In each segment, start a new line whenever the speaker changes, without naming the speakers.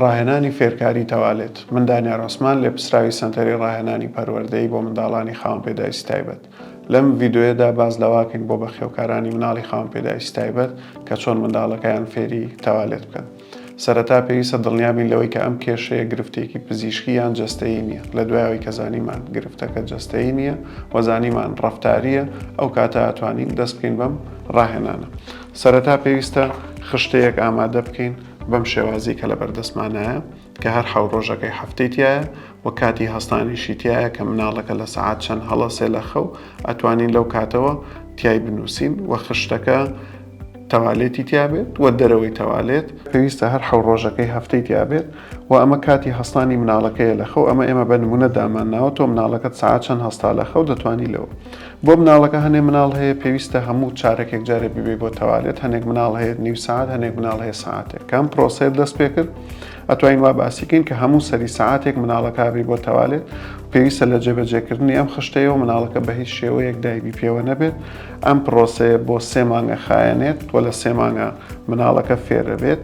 ڕاهێنانی فێرکاری تەوالێت من دانیار عوسمان لێپسراوی سەنتەری ڕاهێنانی پەروەردەیی بۆ منداڵانی خاوەن پێداویستی تایبەت لەم ڤیدۆیەدا باس لەواکەین بۆ بەخێوکارانی مناڵی خاوەن پێداویستی تایبەت کە چۆن منداڵەکەیان فێری تەوالێت بکەن سەرەتا پێویستە دڵنیابین لەوەی کە ئەم کێشەیە گرفتێکی پزیشکی یان جەستەیی نییە لە دوای ئەوەی کە زانیمان گرفتەکە جەستەیی نییە و زانیمان ڕەفتارییە ئەو کاتە ئەتوانین دەست بکەین بەم ڕاهێنانە سەرەتا پێویستە خشتەیەک ئامادە بکەین بەم شێوازی کە لەبەر دەستمانایە کە هەر حەو ڕۆژەکەی هەفتەی تایە و کاتی هەستانیشی تایە کە مناڵەکە لە سەعات چەند هەڵەسێ لە خەو ئەتوانین لەو کاتەوە تای بنووسین و خشتەکە تەوالێتی تیابێت و دەرەوەی تەوالێت پێویستە هەر حەو ڕۆژەکەی هەفتەی تیابێت و ئەمە کاتی هەستانی مناڵەکەیە لە خەو ئەمە ئێمە بە نمونە دامانناوە تۆ مناڵەکەت ساعت چەند هەستا لە خەو دەتوانی لەوە بۆ مناڵەکە هەنێ مناڵ هەیە پێویستە هەموو چارەک یەک جارێ بیبەی بۆ تەوالێت هەنێک مناڵ هەیە نیو سعات هەنێک مناڵ هەیە ساعتێک کەم پرۆسەیە دەست پێ کرد ئەتوین وا باسیکەین کە هەموو سەری ساعتێک مناڵەکبی بۆ تەوالێت پێویستە لە جێبەجێکردنی ئەم خشتەیە و مناڵەکە بە هیچ شێوەیەک دایبی پێوە نەبێت ئەم پرۆسەیە بۆ سێ مانگە خایەنێت و لە سێ مانگە مناڵەکە فێرەبێت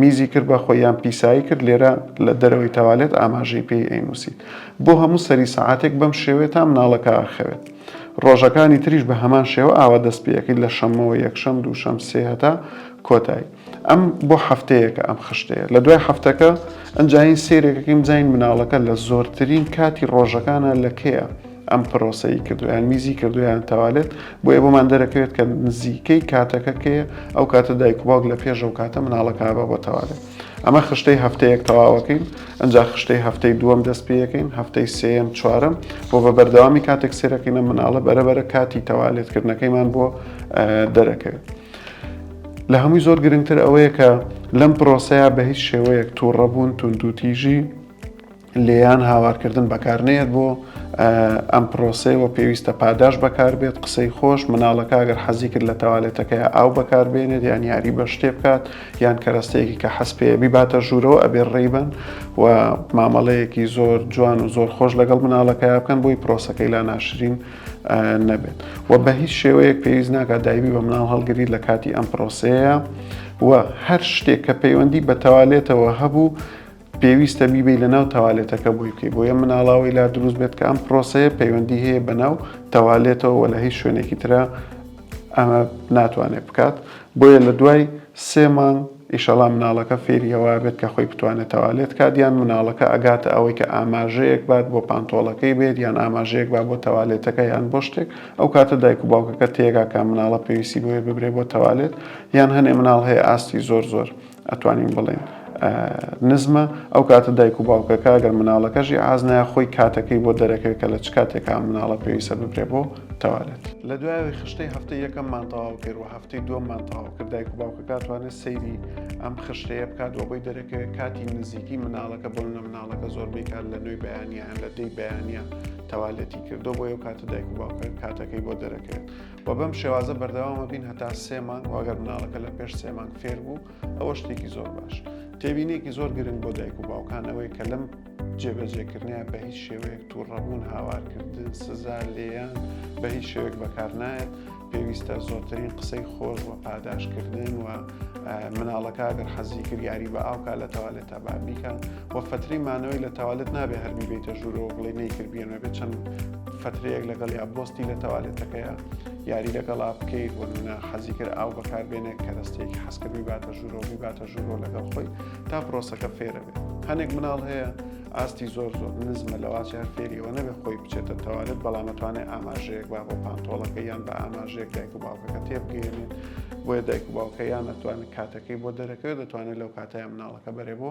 میزی کرد بە خۆی یان پیسایی کرد لێرە لە دەرەوەی تەوالێت ئاماژەی پێی ئەینووسیت بۆ هەموو سەری سەعاتێک بەم شێوەیە تا مناڵەکە ئەخەوێت ڕۆژەکانی تریش بە هەمان شێوە ئاوا دەست پێ ئەکەیت لە شەممەوە یەکشەم دووشەم سێ هەتا کۆتایی ئەم بۆ هەفتەیەکە ئەم خشتەیە لە دوای هەفتەکە ئەنجا هین سەیرێکەکەی بزانین مناڵەکە لە زۆرترین کاتی ڕۆژەکانە لە کەیە ئەم پرۆسەی کردو یان میزی کردو یان تەوالێت بۆیە بۆمان دەرەکەوێت کە نزیکەی کاتەکە کەیە ئەو کاتە دایک و باوک لە پێش ئەو کاتە مناڵەکە بە بۆ تەوالێت ئەمە خشتەی هەفتەیەک تەواوەکەین ئەجا خشتەی هەفتەی دووەم دەست پێەکەین هەفتەی سم چوارم بۆ بە بەردەوامی کاتێک سێرەکەینە مناڵە بەرەبەرە کاتی تەوالێتکردنەکەیمان بۆ دەرەکەوێت. لە هەمووی زۆر گرنگتر ئەوەیە کە لەم پرۆسەیە بە هیچ شێوەیەک تووڕەبوون توندوتیژی لێیان هاوارکردن بەکار نەیەت بۆ ئەم پرۆسەیەوە پێویستە پاداش بەکار بێت قسەی خۆش مناڵەکە ئەگەر حەزی کرد لە تەوالێتەکەی ئاو بەکار بێنێت یان یاری بە شتێ بکات یان کەرەستەیەکی کە حەز پێبی باتە ژوورەوە ئەبێ ڕێیبن و مامەڵەیەکی زۆر جوان و زۆر خۆش لەگەڵ مناڵەکە بکەن بۆی پرۆسەکەی لا ناشرین نەبێت و بە هیچ شێوەیەک پێویست ناکات دایبی بە مناڵ هەڵگری لە کاتی ئەم پرۆسەیە و هەر شتێک کە پەیوەندی بە تەوالێتەوە هەبوو پێویستە بیبەی لە ناو تەوالێتەکە بۆی بکەی بۆیە مناڵاوەی لا دروست بێت کە ئەم پرۆسەیە پەیوەندی هەیە بە ناو تەوالێتەوە وە لە هیچ شوێنێکی ترە ئەمە ناتوانێت بکات بۆیە لە دوای سێ مانگ ئیشەڵا مناڵەکە فێریەوە بێت کە خۆی بتوانێت تەوالێت کات یان مناڵەکە ئەگاتە ئەوەی کە ئاماژەیەک بات بۆ پانتۆڵەکەی بێت یان ئاماژەیەک با بۆ تەوالێتەکە یان بۆ شتێک ئەو کاتە دایک و باوکەکە تێگا کە مناڵە پێویستی بۆیە ببرێ بۆ تەوالێت یان هەنێ مناڵ هەیە ئاستی زۆر زۆر ئەتوانین بڵێین نزمە، ئەو کاتە دایک و باوکەکە ئەگەر مناڵەکەشی ئاز نایە خۆی کاتەکەی بۆ دەرەکەوێت کە لە چ کاتێکا ئەم مناڵە پێویستە ببرێ بۆ تەوالێت. لە دوای ئەوەی خشتەی هەفتەی یەکەممان تەواو کرد و هەفتەی دووەممان تەواو کرد دایک و باوکەکە ئەتوانێت سەیری ئەم خشتەیە بکات و بۆی دەرەکەوێت کاتی نزیکی مناڵەکە بۆ منە مناڵەکە زۆربەی کات لە نوێی بەیانیان لە دەی بەیانە تەوالێتی کردو بۆ ئەو کاتە دایک و باوکە کاتەکەی بۆ دەرەکەوێت. و بەم شێوازە بەردەوامە بین هەتا سێ مانگ واگەر مناڵەکە لە پێش سێ مانگ فێر بوو ئەوە شتێکی زۆر باش تێبینێکی زۆر گرنگ بۆ دایک و باوکانەوەی کە لەم جێبەجێکردنیان بە هیچ شێوەیەک تووڕەبوون هاوارکردن سزا لێیان بە هیچ شێوێک بەکار نایەت پێویستە زۆرترین قسەی خۆش و پاداشکردن و مناڵەکە گەر حەزی کردیاری بە ئاوکە لە تەوالێتە بابیکە و فترەی مانەوەی لە تاوالێت نابێ هەر بیبیتە ژوورەوە بڵێ نەیکرد بێنە بێت چەند فترەیەک لەگەڵ یا بۆستی لە تاوالێتەکەیە یاری لەگەڵا بکەیت وەنە حەزی کرد ئاو بەکاربێنێ کە دەستێکی حەسکە بیباتە ژوورەوە بیباتە ژوورەوە لەگەڵ خۆی تا پرۆسەکە فێرە بێت هەنێک مناڵ هەیە ئاستی زۆر زۆر نزمە لەواچە هەر فێریەوە نەبێ خۆی بچێتە تەوالێت بەڵامەتوانێت ئاماژەیەک با بۆ پانتۆڵەکە یان بە ئاماژەیەک دایک و باوکەکە تێبگەێنێت بۆیە دایک و باوکە یان ناتوانێت کاتەکەی بۆ دەرەکەوێت دەتوانێت لەو کاتەیە مناڵەکە بەرێ بۆ